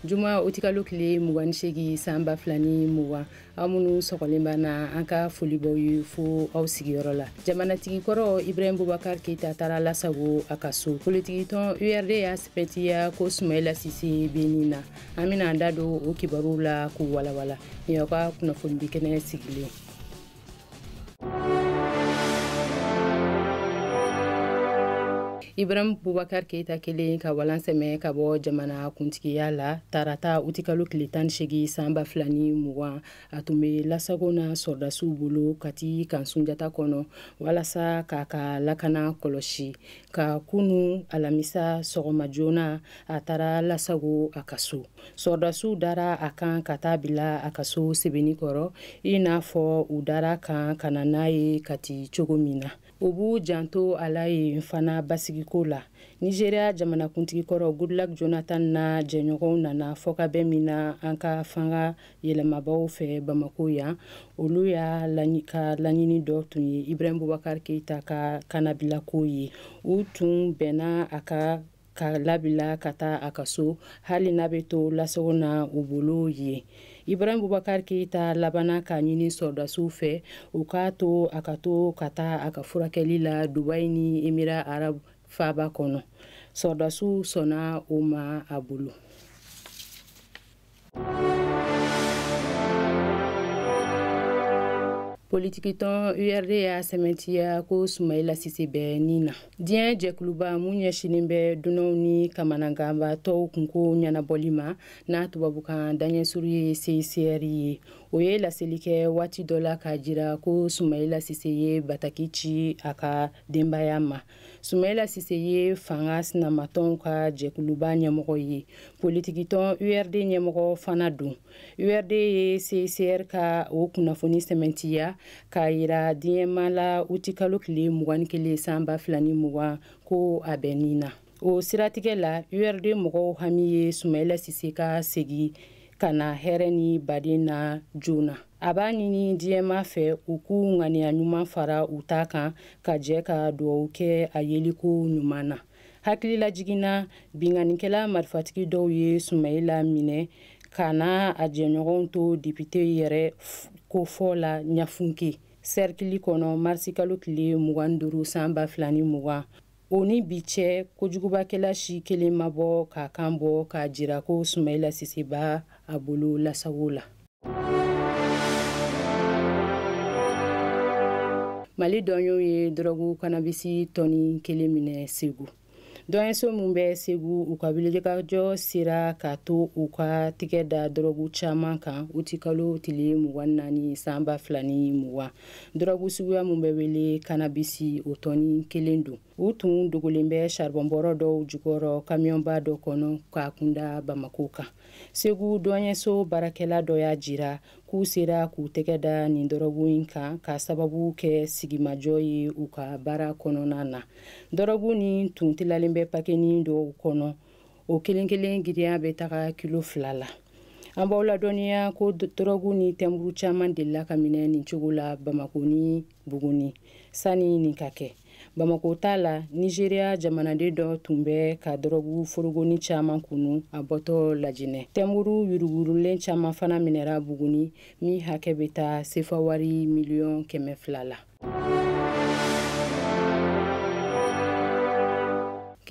juma utikalo tile mugan ni segi san ba fila ni mugan aw minnu sɔgɔlen b'an na an ka foli b'aw ye fo aw sigiyɔrɔ la jamanatigi kɔrɔ ibrahim bubakar keita taara lasago a ka so politikitɔn urd y'a sɛmɛntiya ko sumayila sise be nin na an bena an da don o kibaruw la k'u walawala nin y'aw ka kunnafonidi kɛnɛ sigilen ibrahim bubakar keita kɛlen ka walan sɛmɛ ka bɔ jamana kuntigiya la tarata utikalo tile tan segi san ba fila ni mugan a tun be lasago na sɔrɔdasiw bolo kati kan sunjata kɔnɔ walasa k'a ka lakana kɔlɔsi ka kunu alamisa sɔgɔma joona a taara lasago a ka so sɔrɔdasiw dara a kan ka taa bila a ka so sebenikɔrɔ i n'a fɔ u dara a kan ka na n'a ye kati cogo min na u b'u janto a la yen fana basigiko la nizeriya jamanakuntigi kɔrɔ goodluck jonathan n'a jɛɲɔgɔnw nana fɔkabɛn min na an ka fanga yɛlɛmabaw fɛ bamako yan olu y'a ka laɲini dɔ tun ye ibrahim bubakar keita ka kannabilako ye u tun bɛnna a kan k'a labila ka taa a ka so hali n'a bɛ to lasago na u bolo yen ibrahim bubakar keita labanna k'a ɲini sɔrɔdasiw fɛ u k'a to a ka to ka taa a ka furakɛli la dubai ni emira arab faaba kɔnɔ sɔrɔdasiw sɔnna o ma a bolo politikitɔn urd y'a sɛmɛntiya ko sumayila sise bɛ ni na diɲɛ jɛkuluba mun ɲɛsinin bɛ dunanw ni kamananganbatɔw kunko ɲɛnabɔli ma n'a tubabukan daɲɛsuru ye cicr ye o ye laseli kɛ waati dɔ la k'a jira ko sumayila sise ye bataki ci a ka denbaya ma sumayila sise ye fanga sinamatɔnw ka jɛkuluba ɲɛmɔgɔ ye politikitɔn urd ɲɛmɔgɔ fana don urd ye cicr ka o kunnafoni sɛmɛntiya k'a yira diɲɛmaa la utikalo tile mugan ni kelen san ba fila ni mugan ko a bɛ nin na o siratigɛ la urd mɔgɔw hami ye sumayila sise ka segi ka na hɛrɛ ni baden na joona a b'a ɲini diɲɛmaa fɛ u k'u ŋaniya ɲuman fara u ta kan ka jɛ ka dugawu kɛ a yeliko ɲuman na hakililajiginna binkannikɛla marifatigi dɔw ye sumayila minɛ k'a n'a jɛɲɔgɔnw to depite yɛrɛkofɔ la ɲafunke sɛrikili kɔnɔ marisikalo tile mugan ni duuru san ba fila ni mugan o ni bi cɛ kojugubakɛla si kelen ma bɔ k'a kan bɔ k'a jira ko sumayila sise b'a a bolo lasago la mali dɔnyɛw ye dɔrɔgu kanabisi tɔni kelen minɛ segu dɔnyɛso min bɛ segu u ka wulikajɔ sera k'a to u ka tigɛ da dɔrɔgu caman kan utikalo tile mugan naani san ba fila ni mugan dɔrɔgu suguya min bɛ wele kanabisi o tɔni kelen don u tun dogolen bɛ saribɔnbɔrɔ dɔw jukɔrɔ kamiyɔnba dɔ kɔnɔ k'a kunda bamako kan segu dɔnyɛso baarakɛla dɔ y'a jira k'u sera k'u tɛgɛ da nin dɔrɔgu in kan k'a sababu kɛ sigimajɔ ye u ka baara kɔnɔna na dɔrɔgu nin tun tilalen bɛ pakenin dɔw kɔnɔ o kelen kelen giriya bɛ taga kilo fila la an b'aw ladɔnniya ko dɔrɔgu ni tɛnburu caman delila ka minɛ nin cogo la bamako ni buguni sani nin ka kɛ bamako ta la nizeriya jamanaden dɔ tun bɛ ka dɔrɔgu forogonin caman kunu a bɔtɔ lajinɛ tɛnburu yuruguyurugulen caman fana minɛra buguni min hakɛ bɛ taa sefawari miliyɔn kɛmɛ fila la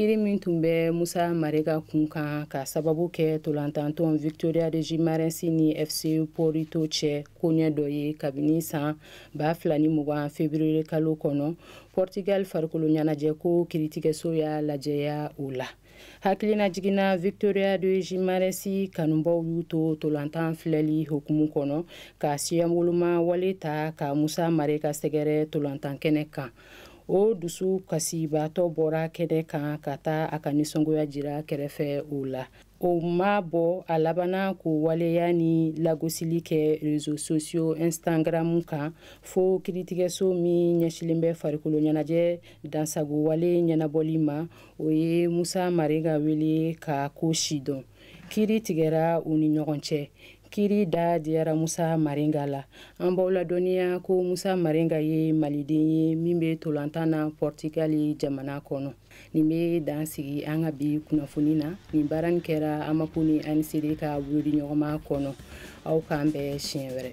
kiri min tun bɛ musa marega kun kan k'a sababu kɛ tolantantɔn victoria de gimarensi ni fc porto cɛ koɲɛ dɔ ye kabini san ba fila ni mugan feburuyekalo kɔnɔ portugal farikolo ɲɛnajɛ ko kiritigɛso y'a lajɛya o la hakilinajigin na victoria de jimaresi kanubaw y'u to tolantan filɛli hukumu kɔnɔ ka siyawoloma wale ta ka musa marega sɛgɛrɛ tolantan kɛnɛ kan o dusukasibaatɔ bɔra kɛnɛ kan ka taa a ka nisɔngoya jira kɛrɛfɛ o la o m'a bɔ a labanna k'o waleya nin lagosili kɛ rezo sosiyo instagram kan fo kiritigɛso min ɲɛsilen bɛ farikolo ɲɛnajɛ dansagowale ɲɛnabɔli ma o ye musa marega wele ka ko sidɔn kiri tigɛra u ni ɲɔgɔn cɛ kiri da diyara musa marenga la an b'aw ladɔnniya ko musa marenga ye maliden ye min bɛ tolantan na pɔrtigali jamana kɔnɔ nin bɛ dan sigi an ka bi kunnafoni na nin baara nin kɛra amapu ni ancd ka bolodiɲɔgɔnma kɔnɔ aw k'an bɛn siɲɛ wɛrɛ